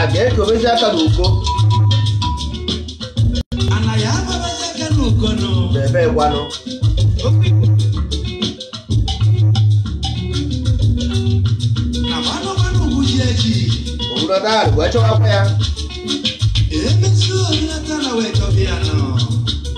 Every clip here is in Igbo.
a ga-ekobezi aka n'uko ebe gwanụ obodo ahụ wee chọwakwa ya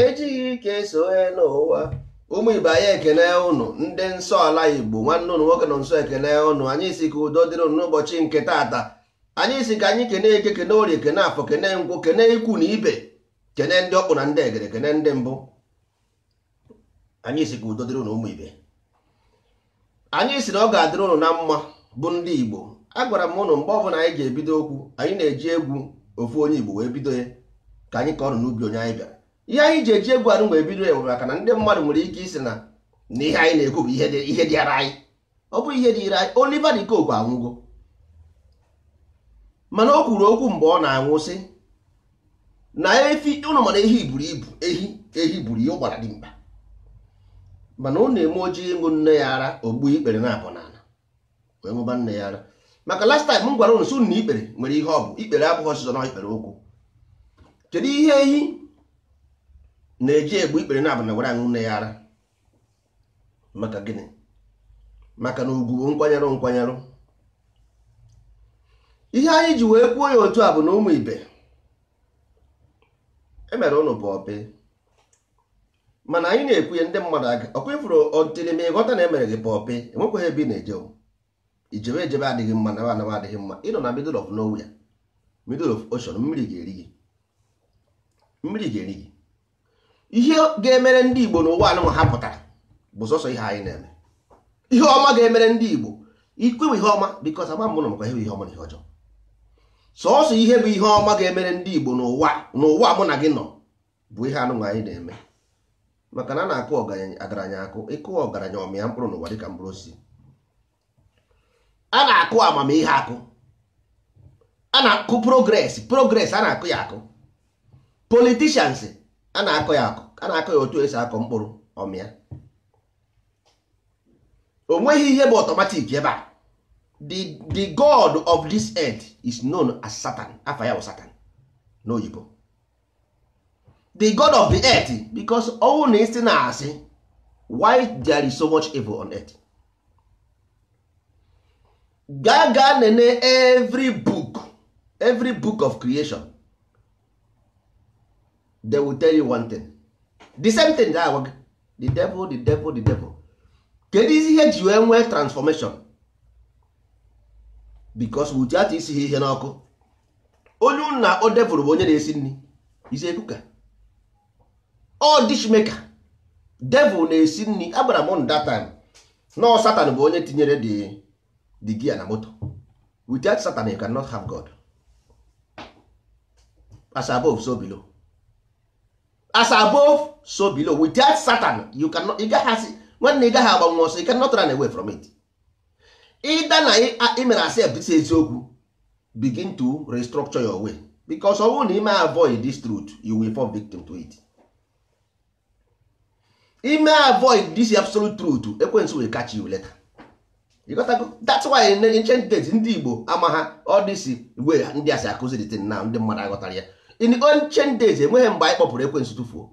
ejighị ike eso enu ụwa ụmụ ibe anyị ekene ụnụ ndị nsọ ala igbo nwanne ụnụ nwoke nọ nsọ ekene ụnụ anyị si ka udo dịrị ụnụ n'ụbọchị nke taata anyị si ka anyị kene eke kene orie kene afọ kene nkwọ kene ikwu na ibe kene ndị ọkpụ na ndị egere kene ndị mbụ anyị si ka udo dịrị ụnụ ụmụ ibe anyị si na ọ ga-adịrị ụnụ na mma bụ ndị Igbo agwara m ụnụ mgbe ọbụla anyị ji ebido okwu anyị na-eji egwu ofu onye Igbo wee bido ya ka anyị ka ọrụ n'ubi onye anyị bịara ihe anyị ji eji egwu anụ wee bido ya maka na ndị mmadụ nwere ike ịsị na na ihe anyị na-ekwu bụ ihe dịara anyị ọ bụrọ ihe dịịrị anyị Oliver de Coque anwụgo mana o kwuru okwu mgbe ọ na-anwụ sị na efi ụnụ ma na ehi buru ibu ehi ehi buru ibu gbara dimkpa mana ọ na-eme ọ jee ịṅụ nne ya ara o gbuo ikpere naabọ n'ala wee ṅụba nne ya ara maka last time m gwara ụnụ sị na ikpere nwere ihe ọ bụ ikpere abụghị sọsọ na ikpere ụkwụ kedu ihe ehi na-eji egbu ikpere naabọ n'ala were aṅụ nne ya ara maka gịnị maka na ugwu bụ nkwanyerụ nkwanyerụ ihe anyị ji wee kwuo ya otu a bụ na ụmụ ibe emere ụnụ pọpị mana anyị na-ekwu ya ndị mmadụ aga ọkwa ịfụrụ ọtịrị ma ị ghọta na emere gị pọpị enwekwaghị ebe ị na-eje i jebe ejebe adịghị mma na anaba adịghị mma ị nọ na middle of nowhere middle of ocean mmiri ga-eri gị mmiri ga-eri gị ihe ga-emere ndị Igbo n'ụwa anụnwa ha pụtara bụ sọsọ ihe anyị na-eme ihe ọma ga-emere ndị Igbo ikwewe ihe ọma because ama mbụ na maka ihe ọma na ihe ọjọọ sọsọ ihe bụ ihe ọma ga-emere ndị Igbo n'ụwa n'ụwa mụ na gị nọ bụ ihe anụnwa anyị na-eme maka na a na-akụ ọgaranya akụ ị kụọ ọgaranya ọ mịa mkpụrụ n'ụwa dịka mkpụrụ osisi a na-akụ amamihe akụ a na-akụ progress progress a na-akụ ya akụ politicians a na-akụ ya akụ a na-akụ ya otu e si akụ mkpụrụ ọ mịa o nweghị ihe bụ automatic ebe a the the god of this earth is known as satan afa ya bụ satan n'oyibo the god of the earth because ọ wụ na ị sị na-asị why there is so much evil on earth gaa gaa nenee every book every book of creation they will tell you one thing the same thing ga agwa gị the devil the devil the devil kedu isi ihe e ji wee nwee transformation because without isi ha ihe n'ọkụ onye unu na-akpọ devil bụ onye na-esi nri is a cooker or dish maker devil na-esi nri agwara m that time na satan bụ onye tinyere the the gear na moto without satan you cannot have god as above so below as above so below without satan you cannot ị gaghị asị nwanne ị gaghị agbanwu ọsọ you cannot run away from it either na i mere accept this eziokwu begin to restructure your way because ọ bụrụ na i mee avoid this truth you will fall victim to it i mee avoid this absolute truth ekwensu will catch you later ịghọtago that's why in ancient days ndị Igbo amaha all this way ndị a si akụzi the thing now ndị mmadụ aghọtara ya in ancient days enweghị mgbe anyị kpọpụrụ ekwensu tụfuo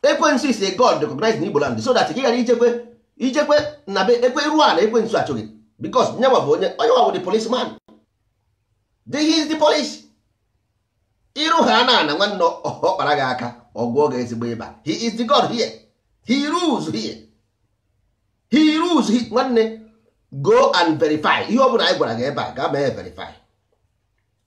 ekwensu is a god recognized na igboland so that ị ghara ijekwe ijekwe na be ekwe rụọ ala ekwensu achụ gị because nya nwa bụ onye ọ nya nwa bụ the police man the he is the police iru ha n'ana nwanne ọ kpara gị aka ọ gwọọ gị ezigbo ịba he is the god here he rules here he rules here nwanne go and verify ihe ọ bụla anyị gwara gị ebe a gaa mee verify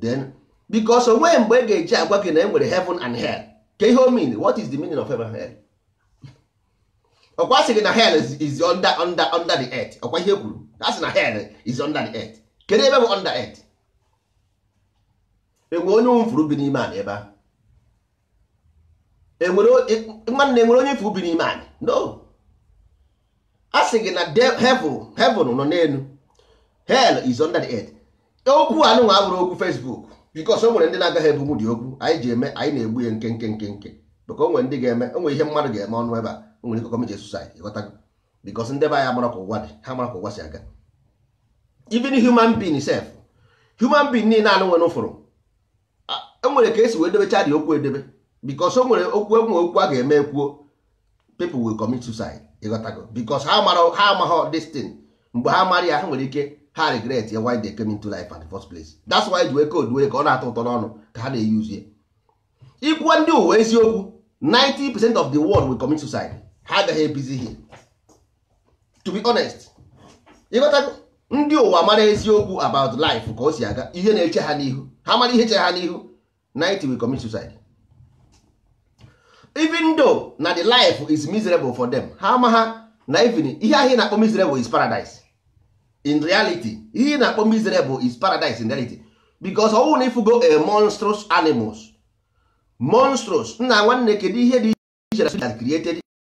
then because o nweghị mgbe ị ga-eji agwa gị na e nwere heaven and hell kee ihe o mean what is the meaning of heaven and hell ọkwa a sị gị na hell is, is under, under, under the earth ọkwa ihe e kwuru a sị na hell is under the earth kedu ebe bụ under earth enwe onye unu fụrụ bi n'ime ana ebe a enwere nwanne enwere onye ị fụ bi n'ime anị no a sị gị na heaven heaven nọ n'elu hell is under the earth okwu a nụnwa abụrọ okwu Facebook because o nwere ndị na-agaghị ebunwu ụdị okwu anyị ji eme anyị na-egbu ya nkenke nkenke maka o nwere ndị ga-eme o nwere ihe mmadụ ga-eme ọ nụ ebe a o nwere ike commit suicide ịghọtago because ndị be anyị amarọ ka ụwa dị ha amarọ ka ụwa si aga even human being self human being niile anụ nwere ụvụrụ e nwere ka e si wee debecha ụdị okwu edebe because o nwere okwu enwe okwu a ga-eme ekwuo people will commit suicide ịghọtago because ha mara ha amaghọ this thing mgbe ha mara ya ha nwere ike ha regret ya why they came into life at the first place that's why e ji wee code ụwa ka ọ na-atọ ụtọ n'ọnụ ka ha na-eyuzie ị gwa ndị ụwa eziokwu 90 percent of the world will commit suicide ha agaghị ebizi here to be honest ị ghọtago ndị ụwa mara eziokwu about life ka o si aga ihe na-eche ha n'ihu ha mara ihe che ha n'ihu 90 will commit suicide even though na the life is miserable for them ha amaha na even ihe ahụ ị na-akpọ miserable is paradise in reality ihe ị na-akpọ miserable is paradise in reality because ọ wụ na ị fugo a monstrous animals monstrous nna nwanne kedu ihe dị iche na created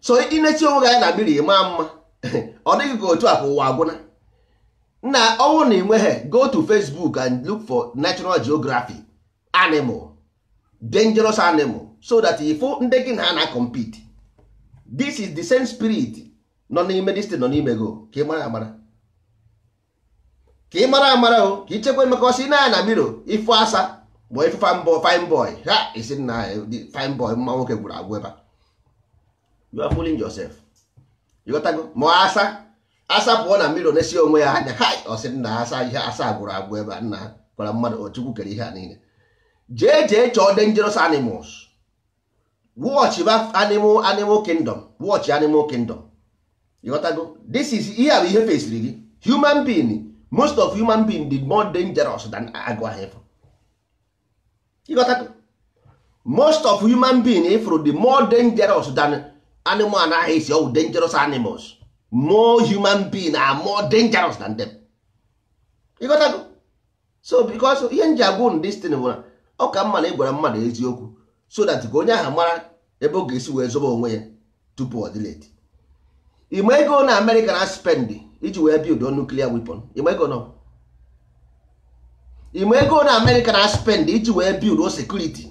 so ị na-esi onwe gị anya na miro ị maa mma ọ dị gị ka otu a ka ụwa agwụna na ọ wụrụ na ị nweghị go to Facebook and look for National Geography animal dangerous animal so that ị fụ ndị gị na ha na-compete this is the same spirit nọ n'ime this thing nọ n'ime gị o ka ị mara amara ka ị mara amara o ka i chekwa maka ọ sị na na miro ị fụ asa bụ ị fụ fine boy ha sị na fine boy mma nwoke gwụrụ agwụ ebe you are fooling yourself ị ghọtago ma asa asa pụọ na miro na-esi onwe ya anya ha ọ sị na asa ihe asa gwụrụ agwụ ebe a nna gwara mmadụ ọ Chukwu kere ihe a niile jee jee chọọ dangerous animals watch ba animal animal kingdom watch animal kingdom ịghọtago this is ihe a bụ ihe fesiri gị human being most of human being dị more dangerous than agụ ahụ ịfụ ịghọtago most of human being ịfụrụ dị more dangerous than animal anaghị esi ọwụ dangerous animals more human being are more dangerous than them ịghọtago so because ihe m ji agwa unu this thing wụ na ọ ka mma na ị gwara mmadụ eziokwu so that ka onye ahụ mara ebe ọ ga-esi wee zoba onwe ya tupu ọ dị late ị ma ego na America na-spend iji wee build o nuclear weapon ị ma ego nọ ị ma ego na America na-spend iji wee build o security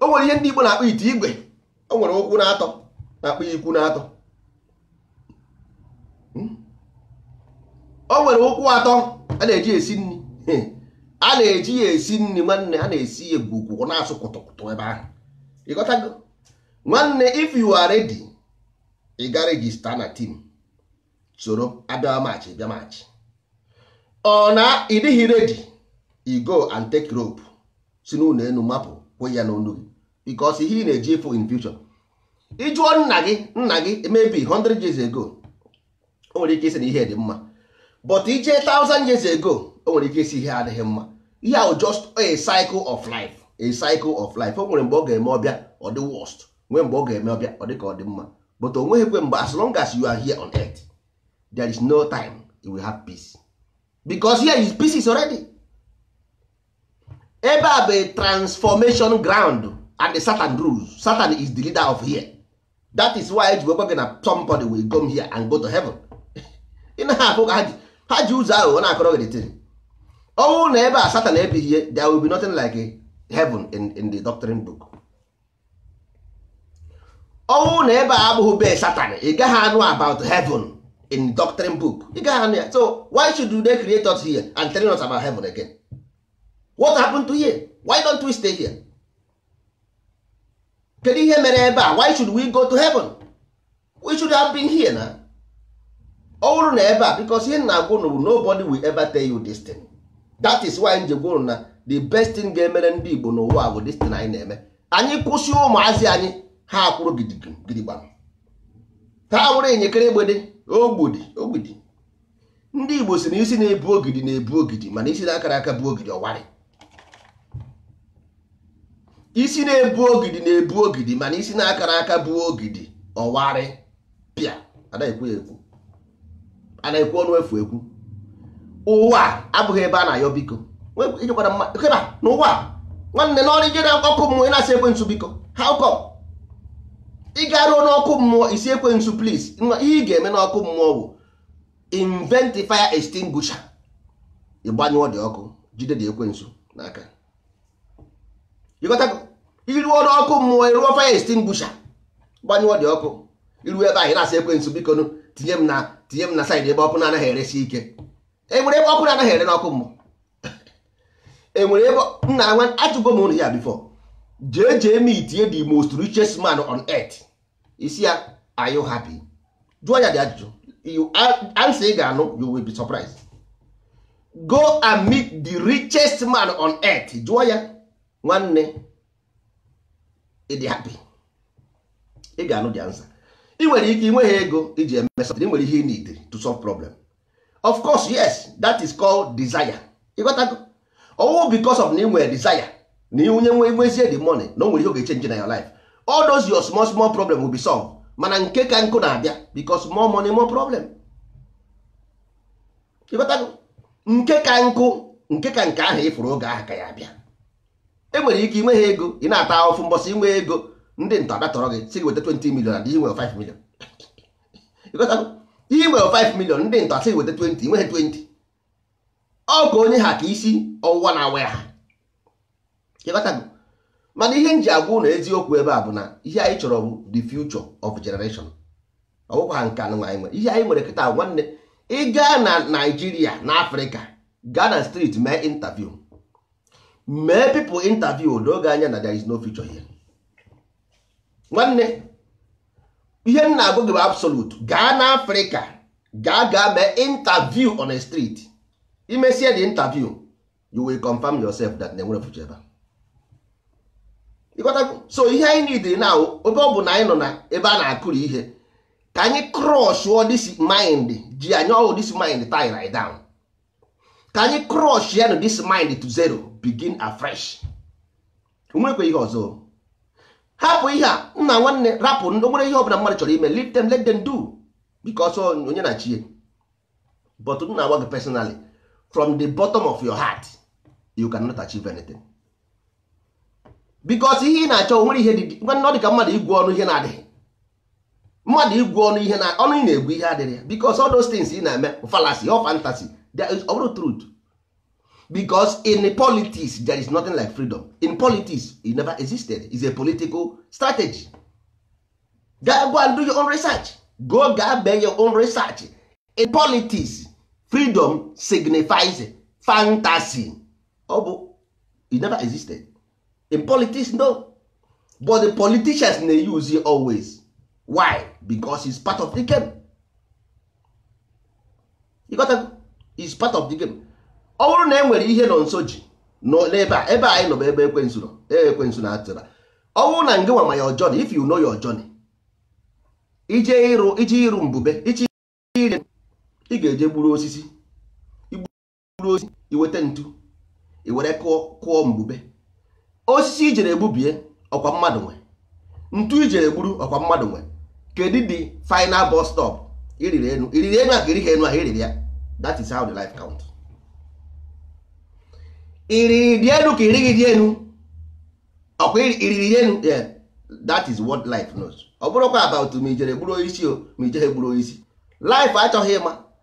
o nwere ihe ndị Igbo na-akpọ ite igwe o nwere ụkwụ n'atọ na-akpọ ekwu n'atọ hmm? o nwere ụkwụ atọ a na-eji esi nri hmm. a na-eji ya esi nri nwanne a na-esi ya gwugwu na-asụ kụtụkụtụ ebe ahụ ị ghọtago nwanne if you are ready ị ga-register na team soro abịa machị bịa machị ọ na ị dịghị ready i go and take rope si n'ụlọ elu mapụ kwụ ya n'onu gị because ihe ị na-eje ịfụ in future ị jụọ nna gị nna gị maybe 100 years ago o nwere ike ịsị na ihe dị mma but i jee 1000 years ago o nwere ike ịsị ihe adịghị mma ihe ahụ just a cycle of life a cycle of life o nwere mgbe ọ ga-eme ọ bịa ọ dị worst nwee mgbe ọ ga-eme ọ bịa ọ dịka ọ dị mma but o nweghịkwe mgbe as long as you are here on earth there is no time you will have peace because here is pieces already ebe a bụ a transformation ground and the Satan rules Satan is the leader of here that is why e ji wee gwa gị na somebody will come here and go to heaven ị na-afụ ka ha ji ha ji ụzọ ahụ ọ na-akọrọ gị the ọ bụrụ na ebe a Satan ebighie there will be nothing like heaven in, in the doctrine book ọ wụ na ebe a abụghị be satan ị gaghị anụ about heaven in doctrine book ị gaghị anụ ya so why should they create us here and telling us about heaven again what happened to here why don't we stay here kedu ihe mere ebe a why should we go to heaven we should have been here na ọ bụrụ na ebe a because ihe m na-agwa unu bụ nobody will ever tell you this thing that is why m ji gwa unu na the best thing ga-emere ndị Igbo n'ụwa bụ this thing anyị na-eme anyị kwụsị ụmụazị anyị ha akwụrụ gidigbam ha wụrụ enyekere egbede ogbidi ogbidi ndị Igbo sị na isi na-ebu ogidi na-ebu ogidi mana isi na-akarọ aka bu ogidi ọ warị isi na-ebu ogidi na-ebu ogidi mana isi na-akarọ aka bu ogidi ọ warịpịa anaghị ekwu ya ekwu anaghị ekwu ọnụ efu ekwu ụwa abụghị ebe a na-ayọ biko ịjụkwara mma n'ụwa nwanne n'ọrụ i je na ọkụ mmụọ ị na-asị ekwensu biko how come ị garuo n'ọkụ mmụọ ị sị ekwensu please ihe ị ga-eme n'ọkụ mmụọ bụ invent fire extinguisher ị gbanyụọ the ọkụ jide the ekwensu n'aka ị ghọtago i ruo n'ọkụ mmụọ ị rụọ fire extinguisher gbanyụọ the ọkụ i ru ebe ahụ ị na-asị ekwensu bikonụ tinye m na tinye m na side ebe ọkụ na-anaghị eresi ike e nwere ebe ọkụ na-anaghị ere n'ọkụ mmụọ e nwere ebe nna nwa ajụgo m ụnụ ya before jee jee meetie the most richest man on earth ị sị ya are you happy jụọ ya the ajụjụ answer ị ga-anụ you will be surprised go and meet the richest man on earth jụọ ya nwanne ị dị happy ị ga-anụ the answer ị nwere ike ị nweghị ego i ji eme something ị nwere ihe ị needịrị to solve problem of course yes that is called desire ị ghọtago ọ wụ because of na ị nwere desire na i nwe nwezie the money na o nwere ihe ọ ga-echange na your life all those your small small problem will be solved mana nke ka nke na-abịa because more money more problem ị ghọtago nke ka nke nke ka nke ahụ ị fụrụ oge ahụ ka ya-abịa e nwere ike i nweghị ego ị na-ata ahụfụ mbọsị i nwe ego ndị ntọ abịa tọrọ gị sị gị weta 20 million and i nwere 5 million i nwere 5 million ndị ntọ asị weta 20 i nweghị 20 ọ ka onye ha ka isi ọwụwa na-awa ya ha ị ghọtago mana ihe m ji agwa ụnụ eziokwu ebe a bụ na ihe anyị chọrọ bụ the future of generation ọ bụkwaghị nke a nụnwa anyị nwere ihe anyị nwere kịta nwanne ị gaa na Naịjirịa na Afrịka gaa na street mee interview mee people interview o doo gị anya na there is no future here nwanne ihe m na-agwa gị bụ absolute gaa na afrịka gaa gaa mee interview on a street imesie the interview you will confirm yourself that na enwere future ebe a so ihe anyị needịrị now ebe ọ bụ na anyị nọ na ebe a na-akụrụ ihe ka anyị crush all this mind ji anyị oru this mind tie right down ka anyị crushienụ this mind to zero begin afresh o nwerekwa ihe ọzọ hapụ ihe a nna nwanne rapụ o nwere ihe ọbụla mmadụ chọrọ ime leave them let them do because onye na chi e but m na-agwa gị personally from the bottom of your heart you cannot achieve anything because ihe ị na-achọ nwere ihe dị ọ dị ka mmadụ igwu ọnụ ihe na-adịghị mmadụ igwu ọnụ ihe na ọnụ ị na-egwu ihe adịghị ya because all those things ị na-eme fallacy or fantasy ọ bụrọ truth because in politics there is nothing like freedom in politics it never existed it's a political strategy go and do your own research go gaa mee your own research in politics freedom signifies fantasy ọ bụ it never existed in politics no but the politicians na-use it always why because it's part of the game you got to, it's part of the game ọ bụrụ na e nwere ihe nọ nso ji n'ebe a ebe anyị nọ bụ ebe ekwensu nọ ebe ekwensu na atịra ọ bụrụ na ngị nwa ma your journey if you know your journey ije ịrụ ije ịrụ mbube ije ire ị ga-eje gburu osisi gburu osisi iweta ntu iwere kụọ kụọ mbube osisi i jere gbubie ọkwa mmadụ nwe ntu ijere egburu ọkwa mmadụ nwe kedu the final bus stop iriri enu iriri enu a ka irighị enu a iriri ya that is how the life count iriri dị enu ka irighị dị enu ọkwa iriri dị enu yeah that is what life knows ọ bụrọkwa about ma ijere gburu onye isi o ma ijere gburu onye isi life achọghị ịma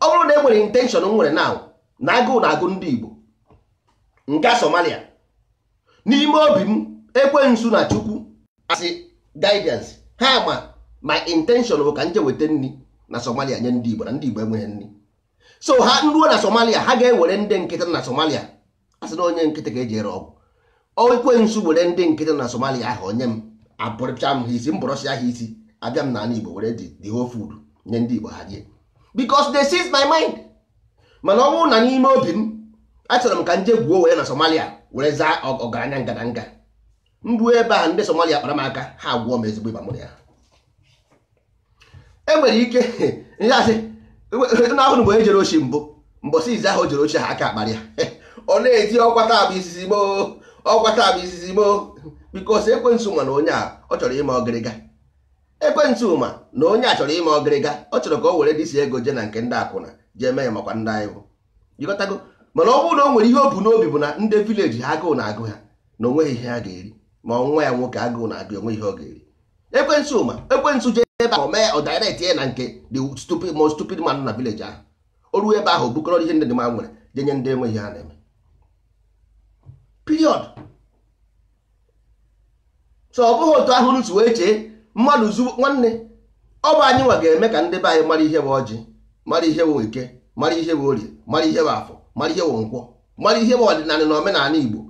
ọ bụrụ na e nwere intention m nwere now na agụụ na agụ ndị Igbo nga Somalia n'ime obi m ekwensu na Chukwu as guidance ha ma my intention bụ ka nje weta nri na Somalia nye ndị Igbo na ndị Igbo enweghị nri so ha nruo na Somalia ha ga-ewere ndị nkịtị na Somalia a sị na onye nkịtị ka eji ere ọgwụ ekwensu were ndị nkịtị na somalia ahụ o nye m egburucha m ha isi m gburusia ha isi abịa m n'ala igbo were the the whole food nye ndị igbo ha rie because they sees my mind mana ọ bụrụ na n'ime obi m achọrọ m ka nje gwuo were na somalia were zaa ọgaranya ngadanga mbụ ebe a ndị somalia kpara m aka ha gwọọ m ezigbo ịba mụ na ya enwere ike ihe asị n'ahụ mgbe e jere oshi mbụ mbọsị izizi ahụ o jere oshi ha aka akpara ya ọ na-eti ọkwa taa bụ izizi m o ọkwa taa bụ izizi m o because ekwensu ma na onye a ọ chọrọ ime ọgịrịga ekwensu ma na onye a chọrọ ime ọgịrịga ọ chọrọ ka o were this ego je na nke ndị akwụna jee mee ya makwa ndị anyị bụ ịghọtago mana ọ bụrụ na o nwere ihe o bu n'obi bụ na ndị village ha agụụ na-agụ ha na onweghị ihe ha ga-eri ma nwa ya nwoke agụụ na-agụ onweghị ihe ọ ga-eri ekwensu ma ekwensu jee ebe ahụ mee ọ direct ya na nke the stupid most stupid man na village ahụ o ruo ebe ahụ bukọrọ ihe ndị dị mma nwere je nye ndị enweghị ihe ha na-eme period so ọ bụghị otu ahụ si wee chee mmadụ zu nwanne ọ bụ anyị nwa ga-eme ka ndị be anyị mara ihe bụ ọjị mara ihe bụ eke mara ihe bụ orie mara ihe bụ afọ mara ihe bụ nkwọ mara ihe bụ ọdịnala na omenala igbo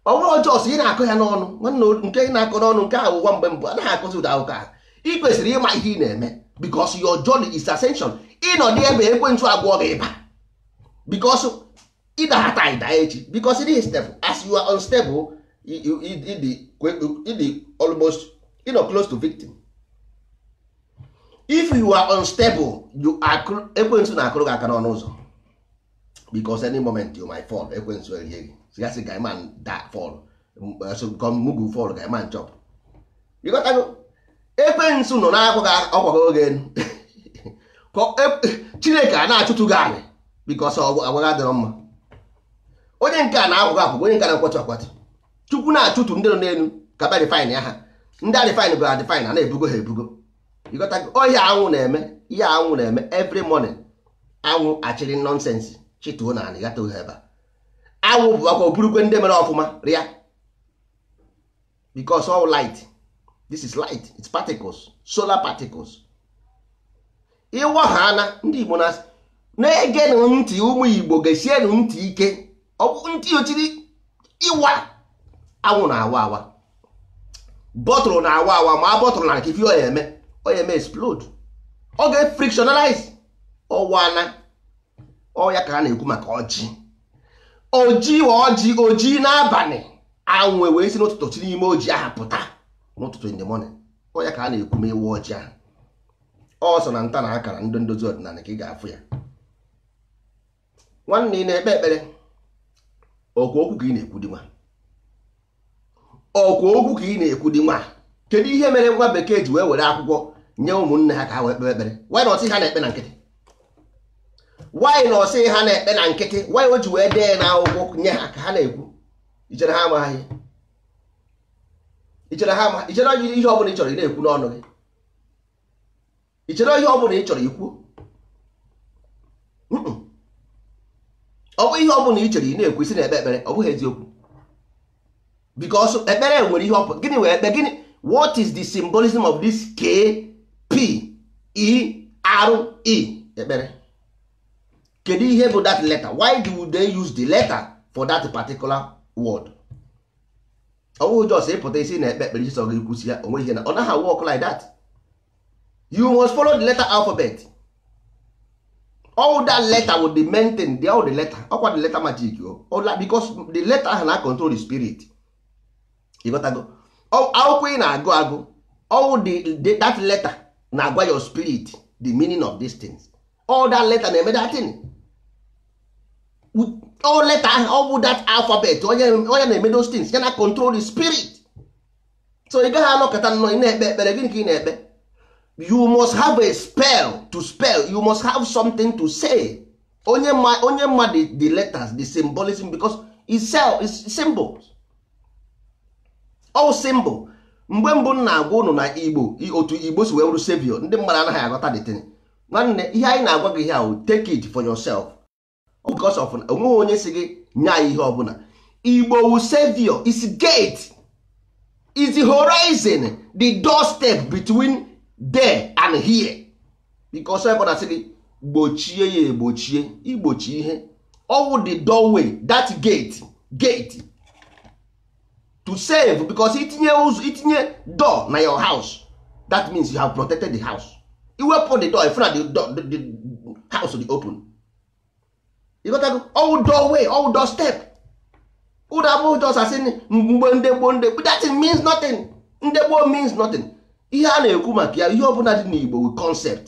ọ bụrọ just ị na-akọ ya n'ọnụ nwanne nke ị na-akọ n'ọnụ nke ahụ ụwa mgbe mbụ anaghị akọzi ụdị akụkọ ahụ ị kwesịrị ịma ihe ị na-eme because your journey is ascension ị nọdụ ebe ekwensu agwọ gị ịba because ị daha taa ị daa echi because dị stable as you are unstable ị dị almost you know, close to victim if you are unstable you are ekwensu na-akụrụ gị aka n'ọnụ ụzọ because any moment you might fall ekwensu erie gị sigasị guy man da fall so come mugu fall guy man chop ịghọtago ekwensu nọ na-akwụ gị ọ kwago gị elu Ka ọ- e- chineke a na-achụtu gị anị because agwa gị adịrọ mma onye nke a na-akwago akwago onye nke a na-akwatu akwatu chukwu na-achụtu ndị nọ n'elu ka bịa refine ya ha ndị a refine bụ a refine a na-ebugo ha ebugo ịghọtago ọ ihe anwụ na-eme ihe anwụ na-eme every morning anwụ achịrị nonsense chịtuo n'anị gata ohe ebe a anwụ bụ akwa o burukwe ndị mere ọfụma rịa because all light this is light it's particles solar particles ịwa ha ana ndị Igbo na na-egenụ ntị ụmụ Igbo gesienụ ntị ike ọ bụ ntị o chiri ịwa anwụ na-awa awa bottle na-awa awa maa bottle n'anị ka ị fụ ihe ọ ya-eme ọ ya-eme explode ọ ga-efrictionalize ọ waa ana ọ ya ka a na-ekwu maka ọjị oji ọjị oji n'abalị anwụ ewee si n'ụtụtụ si n'ime oji ahụ pụta n'ụtụtụ in the morning ọ ya ka a na-ekwu ma ịwa ọjị ahụ ọ sọ na nta na akara ndị ndozi ọdịnala ka ị ga-afụ ya nwanne ị na-ekpe ekpere okwu okwu ka ị na-ekwu gị nwa ọkwa okwu ka ị na-ekwu dị nwa kedu ihe mere nwa bekee ji wee were akwụkwọ nye ụmụnne ha ka ha wee kpee ekpere why not sị ha na-ekpe na nkịtị why not sị ha na-ekpe na nkịtị why o ji wee dee na akwụkwọ nye ha ka ha na-ekwu i chere ha amaghị i chere ha amaghị i chere ihe ọ bụla ị chọrọ ị na-ekwu n'ọnụ gị ị chere ihe ọ bụla ị chọrọ ikwu ọ bụ ihe ọ bụla ị chere ị na-ekwu ị sị na-ekpe ekpere ọ bụghị eziokwu because ekpere nwere ihe ọ bụ gịnị wụ ekpe gịnị what is the symbolism of this k p e r e ekpere kedu ihe bụ that letter why do they use the letter for that particular word ọ bụghị just ịpụta ị sị na-ekpe ekpere ihe sọ gị kwusi ya onwe ihe na ọ naghị work like that you must follow the letter alphabet all that letter will be maintained the all the letter ọkwa the letter magic o oh. because the letter ahụ na control the spirit ịghọtago akwụkwọ ị na-agụ agụ ọwụ the that letter na-agwa your spirit the meaning of these things ọwụ that letter na-eme that thing ọwụ letter ahụ ọ bụ that alphabet ọ ya na-eme those things ya na control the spirit so ị gaghị anọkata nnọọ ị na-ekpe ekpere gịnị ka ị na-ekpe you must have a spell to spell you must have something to say onye ma onye ma the, the letters the symbolism because it's cell it's symbols ọwụ symbol mgbe mbụ m na-agwa ụnụ na igbo otu igbo si wee wụrụ savior ndị mmadụ anaghị aghọta the thing nwanne ihe anyị na-agwa gị here take it for yourself because of onweghị onye sị gị nye anyị ihe ọbụla igbo wụ savior is gate is the horizon the doorstep between there and here because ebe a na-asị gị gbochie ya egbochie igbochi ihe ọwụ the doorway that gate gate to save because itinye ụzọ itinye door na your house that means you have protected the house iwepụ the door ị fụ na the door the, the house dị open ịghọtago ọwụ doorway ọwụ door step ụda abụghị just asị mgbe ndị gboo ndị gboo that means nothing ndị gboo means nothing ihe a na-ekwu maka ya ihe ọbụla dị n'Igbo wụ concept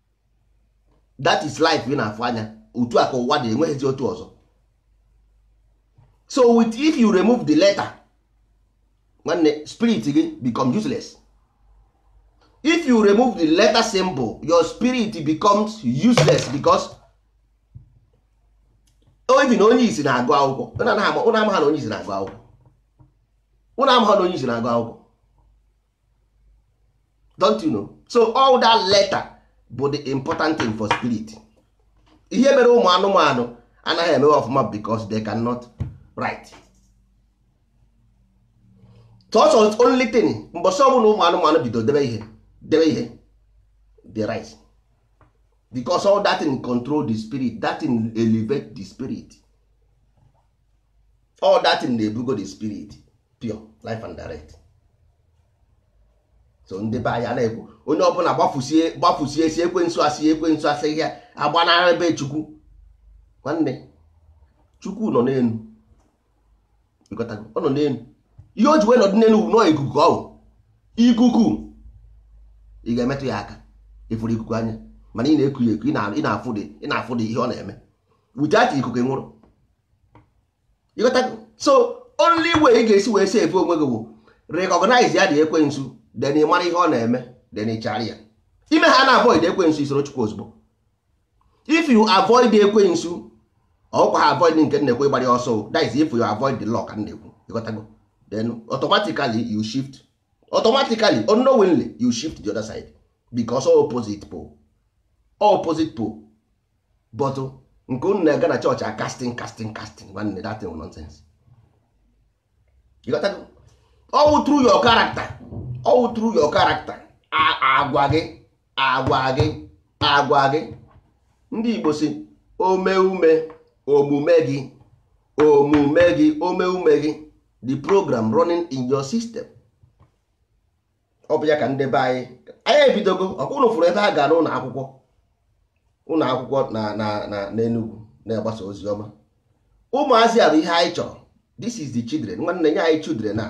that is life ị na-afụ anya otu a ka ụwa dị enweghịzi otu ọzọ so if you remove the letter nwanne spirit gị become useless if you remove the letter symbol your spirit becomes useless because even onye isi na-agụ akwụkwọ ụnụ amaghị na onye isi na-agụ akwụkwọ ụnụ amaghị na onye isi na-agụ akwụkwọ don't you know so all that letter bụ the important thing for spirit ihe mere ụmụ anụmanụ anaghị eme ọfụma because they cannot write ọ sọ only thing mbọsị ọbụla ụmụ anụmanụ bido debe ihe debe ihe they write because all that thing control the spirit that thing elevate the spirit all that thing na-ebugo the spirit pure life and direct so ndị be anyị na-ekwu onye ọbụla gbafusie gbafusie si ekwensu asị ekwensu asị ya agbanara ebe chukwu nwanne chukwu nọ n'elu ọ nọ n'elu ihe o ji wee nọdụ n'elu na ọ ikuku ọ ikuku ị ga-emetụ ya aka ị fụrụ ikuku anya mana ị na-eku ya eku ị na-afụdị ihe ọ na-eme without ikuku nwụrụ so only way ị ga-esi wee save onwe gị bụ recognize ya dị ekwensu then ị mara ihe ọ na-eme then ị chara ya i mehana avoid ekwensu i soro chukwu ozugbo if you avoid ekwensu ọkwa ha avoid nke na-ekwu ịgbara ọsọ that is if you avoid the law ka na-ekwu ị ghọtago then automatically you shift automatically unknowingly you shift the other side because opposite pole opposite pole but nke unu na-aga na chọọchị a casting casting casting nwanne that thing nonsense ọ through your character ọ through your character agwa gị agwa gị agwa gị ndị Igbo sị omeume omume gị omume gị omeume gị the program running in your system ọ bụ ya ka ndị be anyị anyị ebidogo ọkwa unu fụrụ ebe a gara ụlọ akwụkwọ ụlọ akwụkwọ na na na n'Enugu na-agbasa ozi ọma ụmụazị a bụ ihe anyị chọrọ this is the children nwanne nye anyị children na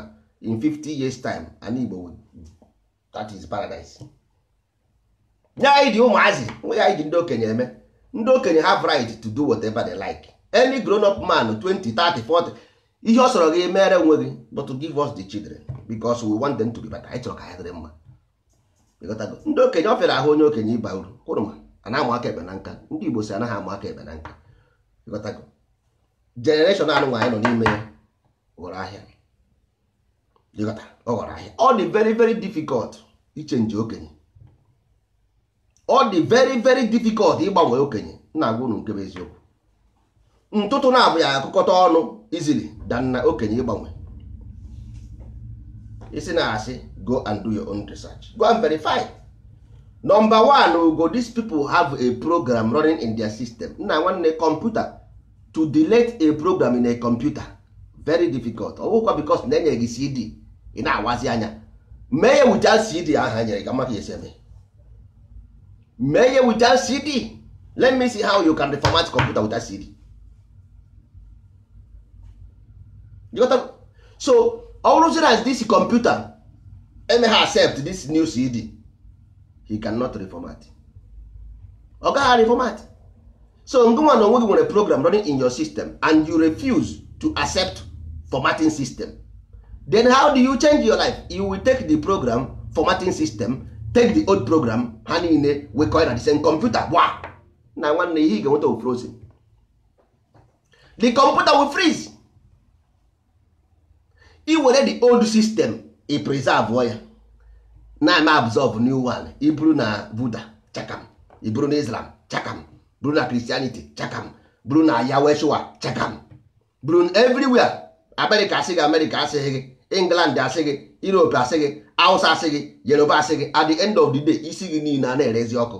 in 50 years time anị Igbo that is paradise nye anyị dị ụmụazị o nwe ihe anyị ji ndị okenye eme ndị okenye have right to do whatever they like any grown up man 20 30 40 ihe ọ sọrọ gị mere onwe gị but to give us the children because we want them to be better anyị chọrọ ka ha dịrị mma ndị okenye ọ fịara ahụ onye okenye ịba uru kwụrụ ma a na-amụ aka ekpe na nka ndị Igbo sị anaghị amụ aka ekpe na nka generation a nụnwa anyị nọ n'ime ya ghọrọ ahịa ọ ghọrọ ahịa ọ dị very very difficult ichenji okenye ọ dị very very difficult ịgbanwe okenye na-agwa unu nke bụ eziokwu ntụtụ na-abụ ya akụkọta ọnụ easily than na okenye ịgbanwe ị sị na asị go and do your own research go and verify number one bụgo these people have a program running in their system nna nwanne computer to delete a program in a computer very difficult ọ bụkwa because na e nye gị cd ị na-awazi anya mee ya without cd a ha nyere gị a ma ka e si eme mee ya without cd let me see how you can reformat computer without cd you got to... so ọ bụrụzi na this computer emeha accept this new cd he cannot reformat ọ gaghị reformat so ngwanụ onwe gị nwere program running in your system and you refuse to accept formatting system then how do you change your life you will take the program formatting system take the old program ha niile wekọọ na the same computer gwa na nwanne ihe ị ga-enweta frozen the computer will freeze i were the old system i preserve ya na-eme absorb new one i buru na buddha chakam i buru na islam chakam buru na christianity chakam buru na yahweshua chakam buru everywhere america asị gị america asị gị england asị gị europe asị gị hausa asị gị yoruba asị gị at the end of the day isi gị niile a na-erezi ọkụ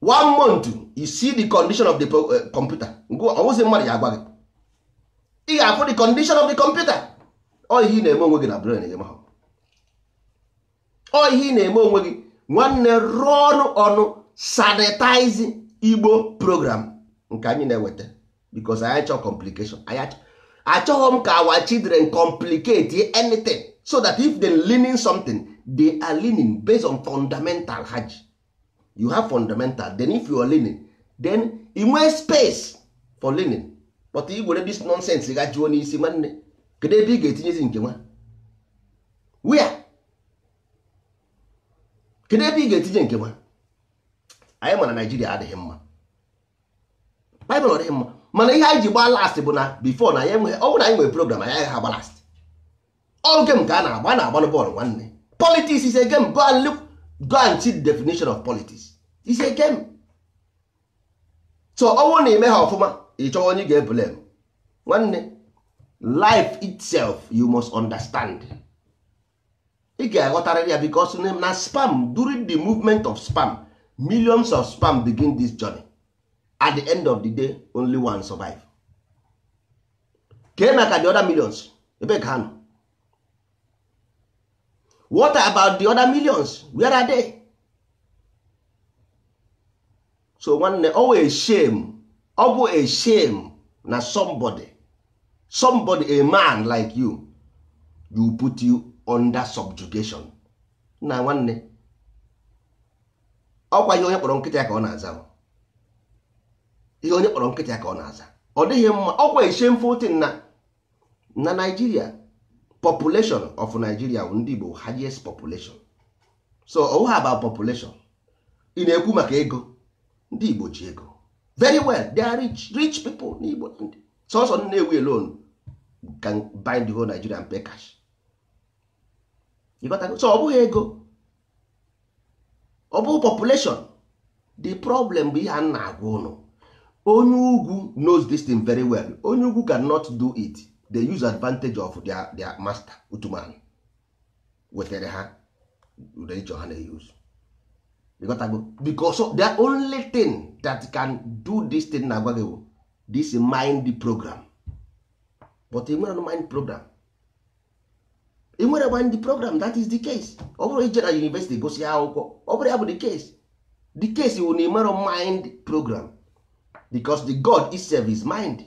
one month you see the condition of the eh, computer ọ wụzi mmadụ ya agwa gị ị ga-afụ the condition of the computer ọ ihe ị na-eme onwe gị na brain gị mahụ ọ ihe ị na-eme onwe gị nwanne rụọ ọnụ ọnụ sanitize igbo program nke anyị na-eweta because anyị achọọ complication achọghị m ka our children complicate anything so that if they learning something they are learning based on fundamental ha you have fundamental then if you are learning then i nwee space for learning but i were this nonsense gbajuo n'isi nwanne kedu ebe ị ga-etinyezi nke nwa where kedu ebe ị ga-etinye nke nwa anyị ma na nigeria adịghị mma bible ọ dịghị mma mana ihe anyị ji gbaa last bụ na before na anyị enweghị ọ bụrụ na anyị nwere program anyị agaghị agba last ọ game ka a na-agba na-agbalụ bọọlụ nwanne politics is a game go and look go and see the definition of politics is a game so ọ wụ na i meha ọfụma ị chọwa onye ị ga-eblame nwanne life itself you must understand ị ga-aghọtarịrị ya because na sperm during the movement of sperm millions of sperm begin this journey at the end of the day only one survive kee maka the other millions ebe ka ha nọ what about the other millions where are they so nwanne ọ wụ a shame ọ bụ a shame na somebody somebody a man like you you put you under subjugation na nwanne ọkwa ihe onye kpọrọ nkịta ya ka ọ na-aza ihe onye kpọrọ nkịta ya ka ọ na-aza ọ dịghị mma ọkwa a shameful thing na na Nigeria population of Nigeria bụ ndị Igbo highest population so ọ wụghị about population ị na-ekwu maka ego ndị Igbo ji ego very well they are rich rich people n'Igbo sọsọ Nnewi alone can buy the whole Nigeria and pay cash so ọ bụghị ego ọ bụ population the problem bụ ihe a na-agwa unu onye ugwu knows this thing very well onye ugwu cannot do it they use advantage of their, their master Uthman wetara ha religion ha na-use because the only thing that can do this thing m na-agwa gị bụ this mind program but ị nwere mind program ị nwere mind program that is the case ọ bụrọ ije na university gụsịa akwụkwọ ọ bụrọ ya bụ the case the case wụ na ị mara mind program because the god itself is mind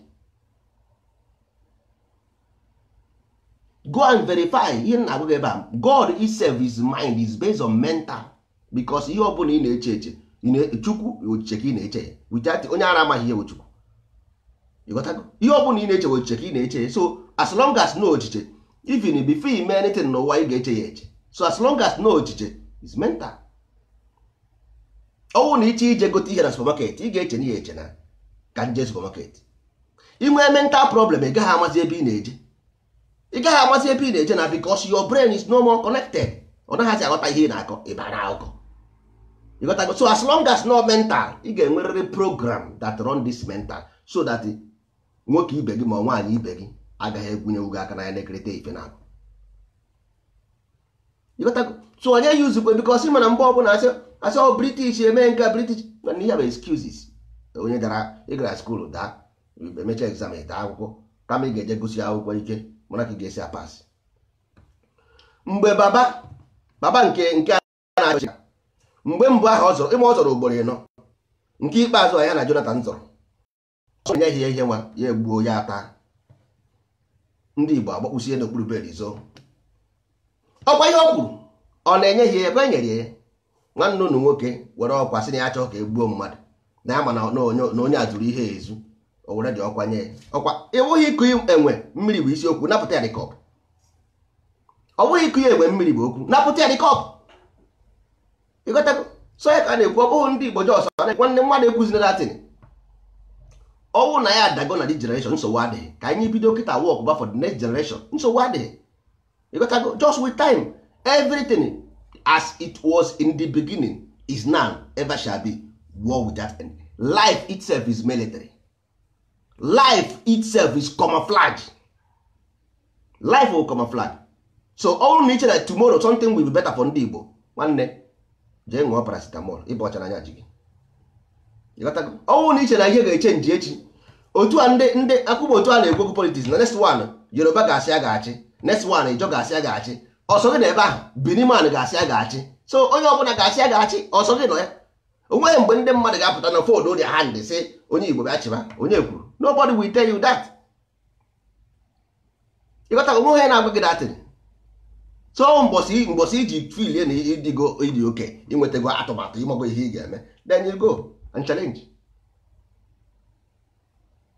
go and verify ihe m na-agwa gị ebe a god itself is mind is based on mental because ihe ọbụla ị na-eche eche chukwu ochiche ka ị na-eche ya without onye ara amaghị ihe chukwu ihe ọbụla ị na-eche ochiche ka ị na-eche ya so as long as na ọ ochiche even before you mee anything n'ụwa ị ga-eche ya eche so as long as na ọ ochiche is mental ọ wụrụ na ị chọọ ije gote ihe na supermarket ị ga-echenu ya eche na ka m jee supermarket i nwee mental problem ị gaghị amazi ebe ị na-eje ị gaghị amazi ebe ị na-eje na because your brain is no more connected ọ naghịzi aghọta ihe ị na-akọ ịba na akụkọ ịghọtago so as long as na ọ mental ị ga-enwerịrị program that run this mental so that nwoke ibe gị ma nwaanyị ibe gị agaghị egwunyewu gị aka n'anya na-ekerịta ife na-akọ so onye use kwe because ị ma na mgbe ọbụla asị asị ọ british eme nke a british mana ihe bụ excuses onye dara ị gara school daa emecha exam daa akwụkwọ kama ị ga-eje gụsie akwụkwọ ike mana ka ị ga-esi a-pass mgbe baba baba nke nke a na-achị mgbe mbụ ahụ ọ zọrọ ịma ọ zọrọ ugboro ịnọ nke ikpeazụ ya na Jonathan zọrọ enyeghị ihe nwa ya egbuo ya ata ndị Igbo agbakpụsie n'okpuru bed zoo ọkwa ihe ọ kwuru ọ na enyeghị ebe e nyere ya nwanne unu nwoke were ọkwa sị na ya achọghị ka egbuo mmadụ na ya ma na onye azụrụ ihe ezu o were the ọkwa nye ọkwa ọ wụghị iku enwe mmiri bụ isiokwu napụta ya the cup ọ bụghị iku ya enwe mmiri bụ okwu napụta ya the cup ịghọtago so ya ka a na-ekwu ọ bụghị ndị Igbo just nwanne mmadụ ekwuzina that thing ọ wụ na ya adago na the generation nsogbu adịghị ka anyị bido kịta work ba for the next generation nsogbu adịghị ịghọtago just with time everything as it was in the beginning is now ever shall be war without end life itself is military life itself is camouflage life will camouflage so ọ bụrụ na i che na tomorrow something will be better for ndị Igbo nwanne jee ṅụọ paracetamol ịba ọcha n'anya ji gị ọ bụrụ na i che na ihe ga-echenji echi otu a ndị ndị akwụkwọ otu a na-ekwu okwu politics na next one Yoruba ga-asị ya ga-achị next one Ijaw ga-asị ya ga-achị ọ sọ gị nọ ebe ahụ Bini man ga-asị ya ga-achị so onye ọbụla ga-asị ya ga-achị ọ sọ gị nọ ya onweghị mgbe ndị mmadụ ga-apụta na fold their hand sị onye igbo bịa chịba onye kwuru nobody will tell you that ịghọta onweghị onye na-agwa gị that thing so mbọsị mbọsị i ji feelie na ị dịgo ị dị okay i nwetago atụmatụ ị mago ihe ị ga-eme then you go and challenge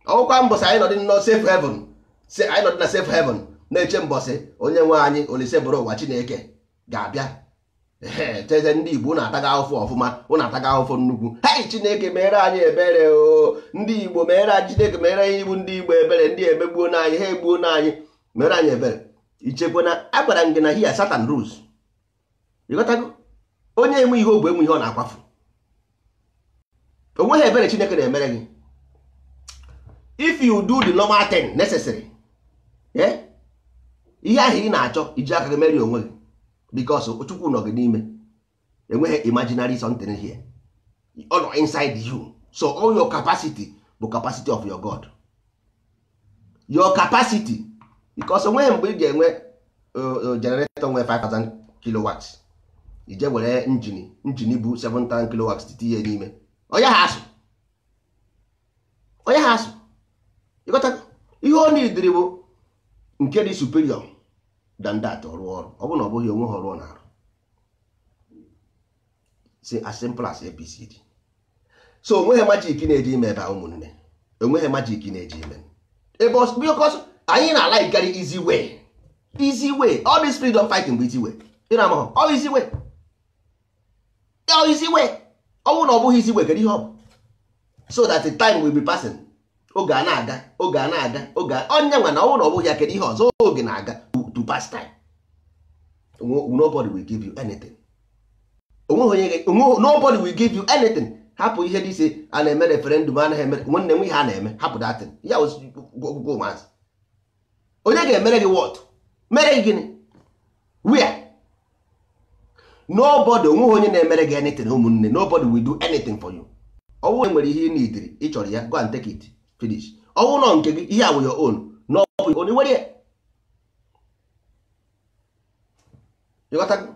ọ bụghịkwa mbọsị anyị nọdị na safe heaven anyị nọdị na safe heaven na-eche mbọsị onye nwe anyị olisebụrụwa chineke ga-abịa sịzie ndị igbo ụnụ atago ahụfụ ọfụma ụnụ atago ahụfụ nnukwu hei chineke meere anyị ebere o ndị igbo meere anyị chineke meere anyị bụ ndị igbo ebere ndị emegbuona anyị ha egbuona anyị meere anyị ebere ichekwa na agwara m gị na here satan rules ịghọtago onye enwe ihe ogbe enwe ihe ọ na-akwafu onweghị ebere chineke na-emere gị if you do the normal thing necessary eh? ihe ahụ ị na-achọ i ji aka gị meere ya onwe gị because chukwu nọ gị n'ime enweghị imaginary something here ọ nọ inside you so all your capacity bụ capacity of your god your capacity because onweghị mgbe ị ga-enwe uh, uh, generator nwere 5000 kilowatts i jee were engine engine bụ 7000 kilowatts tinye n'ime ọ yaghị asụ ọ yaghị asụ ịghọta ihe ọ needịrị bụ nke dị superior than that ọ rụọ ọrụ ọ bụrụ na ọ bụghị onweghị ọrụ ọ na-arụ is as simple as abcd so onweghị magic na-eje ime ebe a ụmụnne onweghị magic na-eje ime ebe a because anyị na-alikekarị easy way easy way all this freedom fighting bụ easy way ị na-amaghị ọ easy way ọ easy way ọ bụrụ na ọ bụghị easy way kedu ihe ọ bụ so that the time will be passing oge ana-aga oge ana-aga oge onye nwa na ọ bụrụ na ọ bụghị ya kedu ihe ọzọ oge na-aga to pass time nobody will give you anything onweghị onye nobody will give you anything hapụ ihe dị ise a na-eme referendum anaghị eme nwanne m ihe a na-eme hapụ that thing ya egwuregwu ụmụazị onye ga-emere gị what mere gị gịnị where nobody onweghị onye na-emere gị anything ụmụnne nobody will do anything for you ọ wụ enwere ihe ị niidiri ị chọrọ ya go and take it finish ọ wụ nọ nke gị ihe a wụ your own n'ọbụ onye nwere ya ịghọtago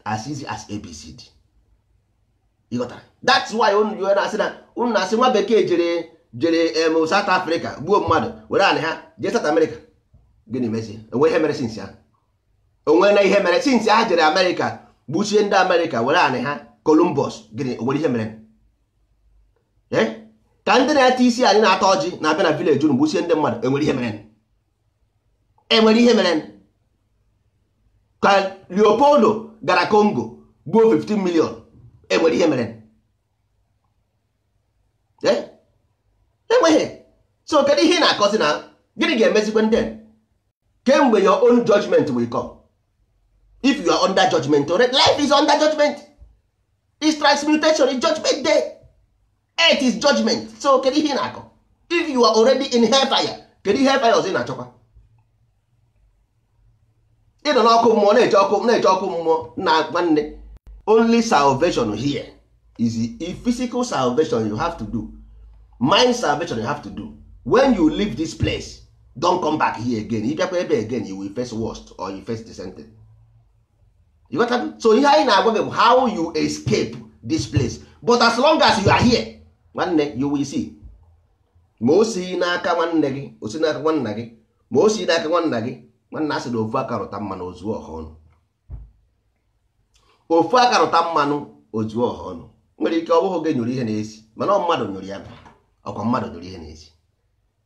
as easy as abcd ịghọtara that's why unu ji na-asị na unu na-asị nwa bekee jere jere em South Africa gbuo mmadụ were anị ha jee South America gịnị mezie onwere ihe mere since ahụ onwena ihe mere since ha jere America gbuchie ndị America were anị ha Columbus gịnị onwere ihe mere Eh? ka ndị na-eti isi anị na-ata ọjị na-abịa na village unu gbuchie ndị mmadụ enwere ihe mere enwere ihe mere ka leopold gara congo gbuo 15 million enwere ihe mere eh? enweghị so kedu ihe ị na-akọzi na gịnị ga-emezikwe ndị kemgbe your own judgment will come if you are under judgment already life is under judgment is transmutation is judgment day earth is judgment so kedu ihe ị na-akọ if you are already in hellfire kedu ihe hellfire ọzọ ị na-achọkwa ị nọ n'ọkụ mmụọ na-eche ọkụ na-eche ọkụ mmụọ na nwanne only salvation here is a physical salvation you have to do mind salvation you have to do when you leave this place don't come back here again ị bịakwa ebe again you will face worst or you face the same thing. so ihe anyị na-agwa gị bụ how you escape this place but as long as you are here nwanne you will see ma o si n'aka nwanne gị o si n'aka nwanna gị ma o si n'aka nwanna gị nwanna a sị na ofu aka rụta mmanụ o zuo ọha ọnụ ofu aka rụta mmanụ o zuo ọha ọnụ nwere ike ọ bụghị gị nyụrụ ihe na-esi mana ọ mmadụ nyụrụ ya ọkwa mmadụ nyụrụ ihe na-esi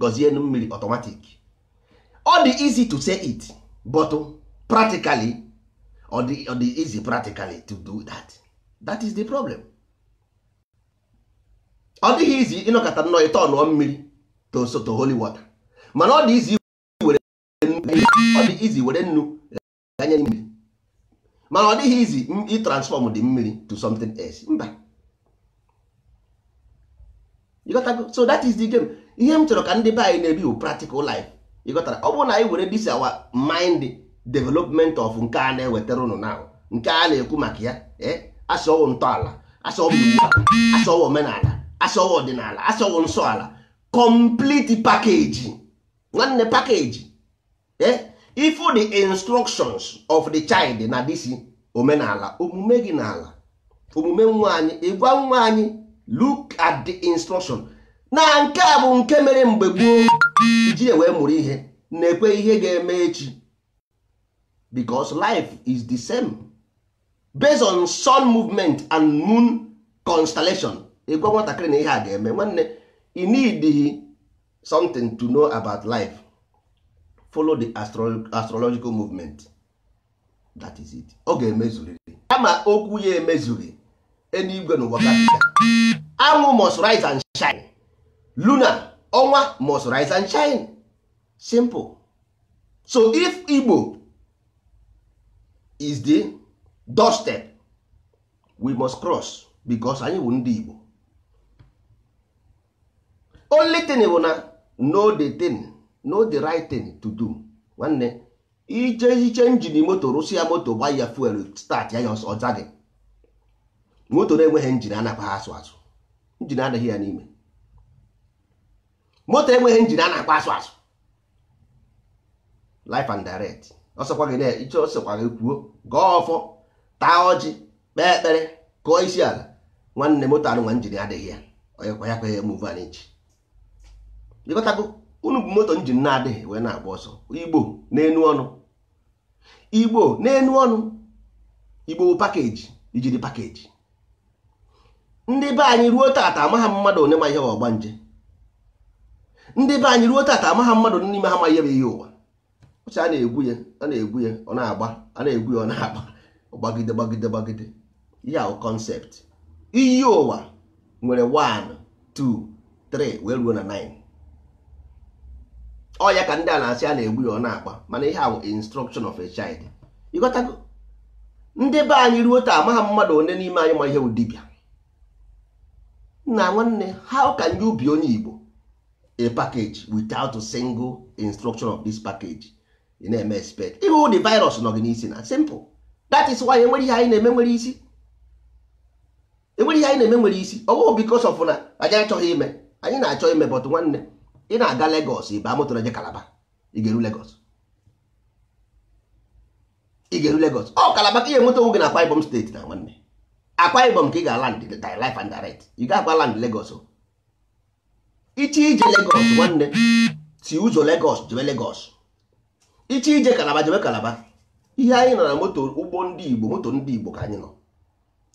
gọzie nnu mmiri automatic ọ dị easy to say it but practically ọ dị ọ dị easy practically to do that that is the problem ọ dịghị easy ịnọkata nnọọ ị turnụọ mmiri to so to holy water mana ọ dị easy were nnu ọ dị easy were nnu ghanye mmiri mana ọ dịghị easy ịtransform the mmiri to something else mba so that is the game ihe m chọrọ ka ndị be anyị na-ebi bụ practical life ịghọtara ọ bụrụ na anyị were this our mind development of nke a na-ewetara ụnụ na nke a na-ekwu maka ya eh, a sị ọ wụ ntọala a sị ọ wụ iwu a sị ọ wụ omenala a sị ọ wụ ọdịnala a sị ọ wụ nsọ ala complete package nwanne package eh? if the instructions of the child na this omenala omume gị n'ala omume nwa anyị ịgwa nwa anyị look at the instruction na nke a bụ nke mere mgbe gboo iji wee bụrụ ihe na-ekwu ihe ga-eme echi because life is the same based on sun movement and moon constellation ịgwa nwatakịrị na ihe a ga-eme nwanne ị need something to know about life follow the astro astrological movement that is it ọ ga-emezurịrị kama okwu ya emezughị eluigwe na ụwa gabiga anwụ must rise and shine luna ọnwa must rise and shine simple so if igbo is the doorstep we must cross because anyị bụ ndị igbo only thing bụ na know the thing know the right thing to do nwanne ije iche njin moto rụsịa moto gba ya fuel start ya ya ọ za gị moto na-enweghị njin a na-akwa asụ asụ njin adịghị ya n'ime moto enweghị njin a na-akwa asụ asụ life and direct ọ sọkwa gị na-eche ọ sọkwa gị kwuo gọọ ọfọ taa ọjị kpee ekpere kụọ isi ala nwanne moto anụnwa njin adịghị ya onye kwa ya kwa ya move an inch ịghọtago unu bụ moto njin na-adịghị wee na-agba ọsọ igbo n'enu ọnụ igbo n'enu ọnụ igbo bụ pakeji ijiri pakeji ndị be anyị ruo tata amaghị m mmadụ one ma ihe bụ ọgbanje ndị be anyị ruo tata amaghị m mmadụ n'ime ha ma ihe bụ iyi ụwa ọcha a na-egwu ya a na-egwu ya ọ na-agba a na-egwu ya ọ na-agba gbagide gbagide gbagide ihe ahụ concept iyi ụwa nwere 1 2 3 wee ruo na 9 ọ ya ka ndị a na-asị a na-egwu ya ọ na-agba mana ihe a bụ instruction of a child ịghọtago ndị be anyị ruo taa amaghị m mmadụ one n'ime anyị ma ihe bụ dibịa nna nwanne how can you be onye Igbo a package without a single instruction of this package ị na-eme expect ịhụ ụdị virus nọ gị n'isi na simple that is why enwerọ ihe anyị na-eme nwere isi enwerọ ihe anyị na-eme nwere isi ọ bụghị because of na anyị achọghị ime anyị na-achọ ime but nwanne ị na-aga Lagos ị baa moto na-eje Calabar ị ga-eru Lagos ị ga-eru Lagos ọ Calabar ka ihe moto nwoge na Akwa Ibom steeti nna nwanne Akwa Ibom ka ị ga-land life and direct ị ga-akwa land Lagos o ị chọọ ije Lagos nwanne si ụzọ Lagos jebe Lagos ị chọọ ije Calabar jebe Calabar ihe anyị nọ na moto ụgbọ ndị Igbo moto ndị Igbo ka anyị nọ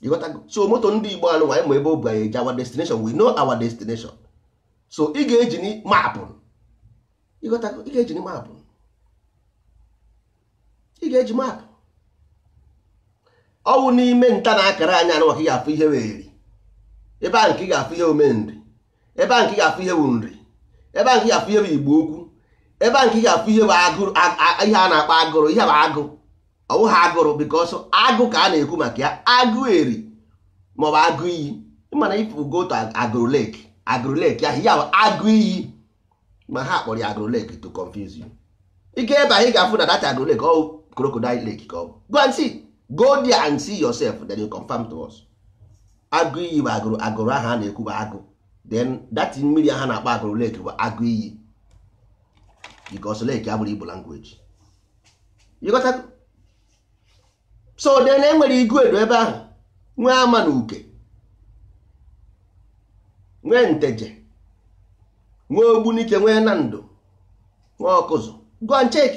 ịghọtago so moto ndị igbo nọ anyị ma ebe o bu anyị eje our destination we know our destination so ị ga-eji maapụ ịghọtago ị ga-eji maapụ ị ga-eji maapụ ọ wụ n'ime nta na akara anya anụ ka ị ga-afụ ihe wụ eri ebe ahụ ka ị ga-afụ ihe ụmụ nri ebe ahụ ka ị ga-afụ ihe bụ nri ebe ahụ ka ị ga-afụ ihe bụ igbo ukwu ebe ahụ ka ị ga-afụ ihe bụ agụrụ ihe a na-akpọ agụrụ ihe bụ agụ ọ wụha agụrụ because agụ ka a na-ekwu maka ya agụ eri ma ọ bụ agụ iyi mana if you go to agụrụ lake agụrụ lake ahụ ya bụ agụ iyi ma ha kpọrọ ya agụrụ lake to confuse you ị ga ebe ahụ ị ga-afụ na that agụrụ lake ọ crocodile lake ka ọ bụ go and see go there and see yourself then you confirm to us agụ iyi bụ agụrụ agụrụ ahụ a na-ekwu bụ agụ then that mmiri ahụ na-akpọ agụrụ lake bụ agụ iyi because lake abụrọ igbo language ịghọtago so then e nwere iguedo ebe ahụ nwee amanuke nwee nteje nwee ogbunike nwee nando nwee ọkụzụ go and check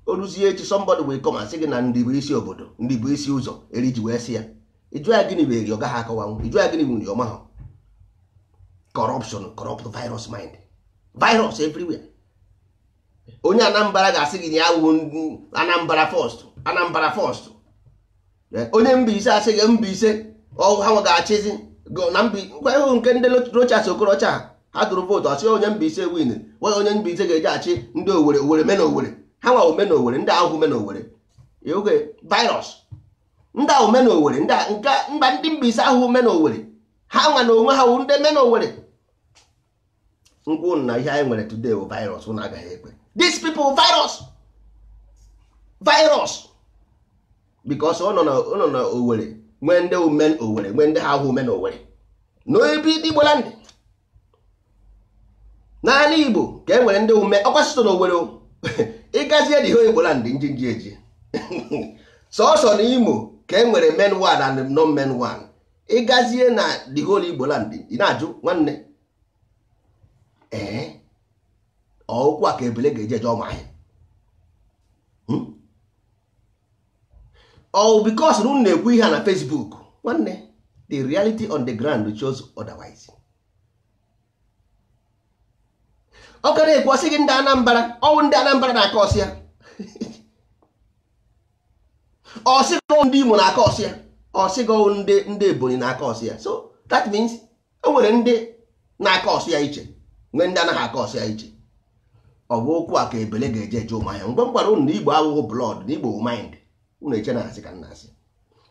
o ruzie echi somebody will come and sị gị na ndị bụ isi obodo ndị bụ isi ụzọ eri ji wee sị ya ị jụọ ya gịnị bụ eri ọ gaha akọwanwu ị jụọ ya gịnị bụ nri ọ maha corruption corrupt virus mind virus everywhere onye anambra ga-asị gị na ya wụ anambra first anambra first eh, onye Mbaise asị gị Mbaise ọ wụ ha ga-achịzi na ngwa ị hụ nke ndị Rochas Okorocha ha tụrụ vootu a sị onye Mbaise win wee onye Mbaise ga-eje achị ndị Owere Owere main Owere ha nwa wụ main Owere ndị a awụhụ main Owere oge virus ndị ahụ main Owere ndị mba ndị Mbaise awụhụ main Owere ha nwa na onwe ha wụ ndị main Owere m gwa ụnụ na ihe anyị nwere today bụ virus ụnụ agaghị ekwe these people virus virus because ọ nọ na ọ nọ na Owerri nwee ndị wụ main Owerri nwee ndị ha awụhụ main Owerri na ebe Igbo land n'ala Igbo ka e nwere ndị wụ main ọ kwa sọsọ na Owerri o. ị gazie the whole Igbo land njinji eji sọsọ na Imo ka e nwere main one and non main one ị gazie na the whole Igbo land ị na-ajụ nwanne ee ọ ụkwụ a ka ebele ga-eji eje Ụmụahịa hmm? ọ wụ because na unu na-ekwu ihe a na Facebook nwanne the reality on the ground shows otherwise. ọ gara ekwu ọ sị gị ndị anambra ọ wụ ndị anambra na-akọ ọsị ya ọ sị gị ndị imo na-akọ ọsị ya ọ sị gị ndị ndị ebonyi na-akọ ọsị ya so that means e nwere ndị na-akọ ọsị ya iche nwee ndị anaghị akọ ọsị ya iche ọ bụ okwu a ka ebele ga-eji eje ụmụahịa mgbe m gwara unu na igbo awụghị blood na igbo mind unu eche na asị ka m na-asị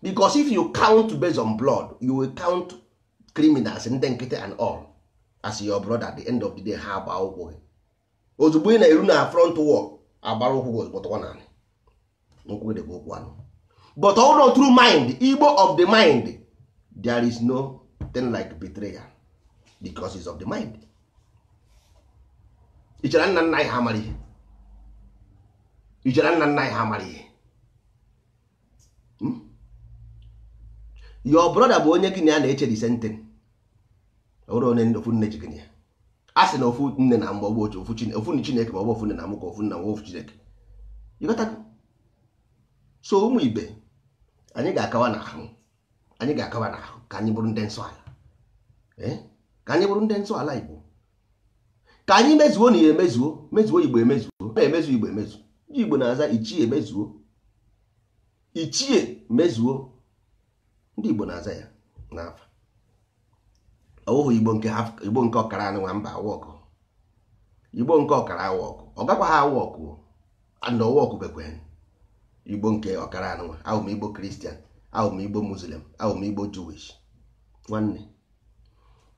because if you count based on blood you will count criminals ndị nkịtị and all as your brother at the end of the day ha agba ụkwụ gị ozugbo ị na-eru na front war agbara ụkwụ gị ozugbo tụwa n'ala nkwụ gị dịkwa ụkwụ anụ but only through mind igbo of the mind there is nothing like betrayal because it's of the mind ị chere nna nna anyị ha amarọ ihe ị chere nna nna anyị ha amarọ ihe hmm? your brother bụ onye gị na ya na-eche the same thing ọ bụrọ onye ofu nne ji gị na ya a sị na ofu nne na-amụ ọ bụrọ ofu chi na-eke ofu nne chineke ma ọ bụ ofu nne na-amụkọ ofu nna nwa ofu chi na-eke so ụmụ ibe anyị ga-akawa n'ahụ anyị ga-akawa n'ahụ ka anyị bụrụ ndị nsọ ala eh? ka anyị bụrụ ndị nsọ ala Igbo ka anyị mezuo na ya emezuo mezuo igbo emezuo na-emezu igbo emezu ndị igbo na-aza ichie mezuo ichie mezuo ndị igbo na-aza ya n'afa ọ wụhụ igbo nke igbo nke ọkara a nụnwa mba awa ọkụ igbo nke ọkara awa ọkụ ọ gakwa ha awa ọkụ and ọwa ọkụbekwe igbo nke ọkara a nụnwa awụ m igbo kristian awụ m igbo muslim awụ m igbo jewish nwanne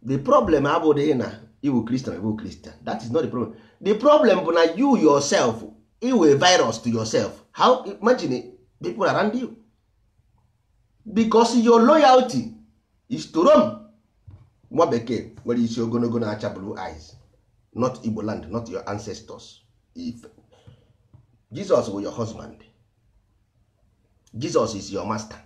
the problem abụghị na ị wụ kristian ị wụ kristian that is not the problem the problem bụ na you yourself ị wụ virus to yourself how imagine people around you because your loyalty is to Rome nwa bekee nwere isi ogologo na-acha blue eyes not Igbo land not your ancestors if Jesus bụ your husband Jesus is your master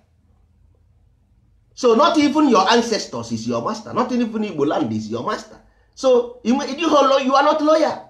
so not even your ancestors is your master not even Igbo land is your master so you are not loyal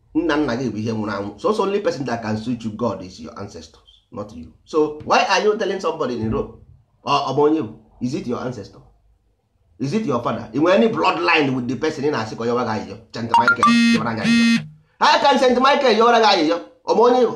nna nna gị bụ ihe nwụrụ anwụ so so only person that can switch you God is your ancestors not you so why are you telling somebody in Europe ọ bụ onye bụ is he your ancestor is he your father ị nwe any bloodline with the person ị na-asị ka ọ yọrọ gị ayịyọ St. Michael yọrọ gị ayịyọ how can St. Michael yọrọ gị ayịyọ ọ bụ onye bụ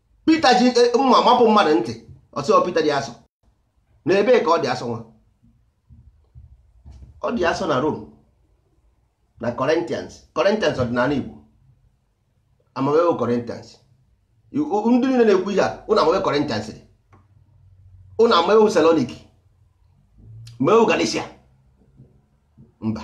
Peter ji eh, mma mapụ mmadụ ntị ọ sị Peter dị asọ na ebee ka ọ dị asọ nwa ọ dị asọ na Rome na Corinthians Corinthians ọ dị n'ala Igbo ama m ebe wụ Corinthians ndị niile na-ekwu ihe a ụnụ ama ebe Corinthians dị ụnụ ama ebe wụ Thessaloniki ma ebe wụ Galatia mba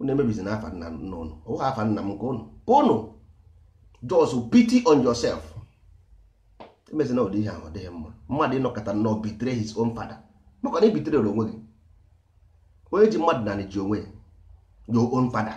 unu emebizina afa nna nna unu ọ bụghị afa nna m nke unu ka unu just pity on yourself emezina ụdị ihe ahụ ọ dịghị mma mmadụ ịnọkọta nnọọ betray his own father maka na ị betray onwe gị onye ji mmadụ n'anị ji onwe ya your own father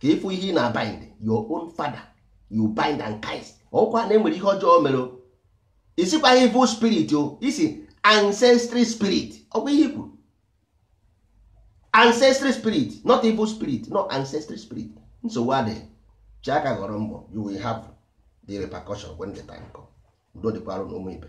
ka ị fụ ihe ị na bind your own father you bind and cast ọkwa na enwere ihe ọjọọ mere ị sịkwa evil spirit o ị sị ancestry spirit ọkwa ihe i kwuru ancestry spirit not evil spirit no ancestry spirit nsogbu adịghị chee aka ghọrọ mgbọ you will have the repercussion when the time come udo dịkwara nụ ụmụ ibe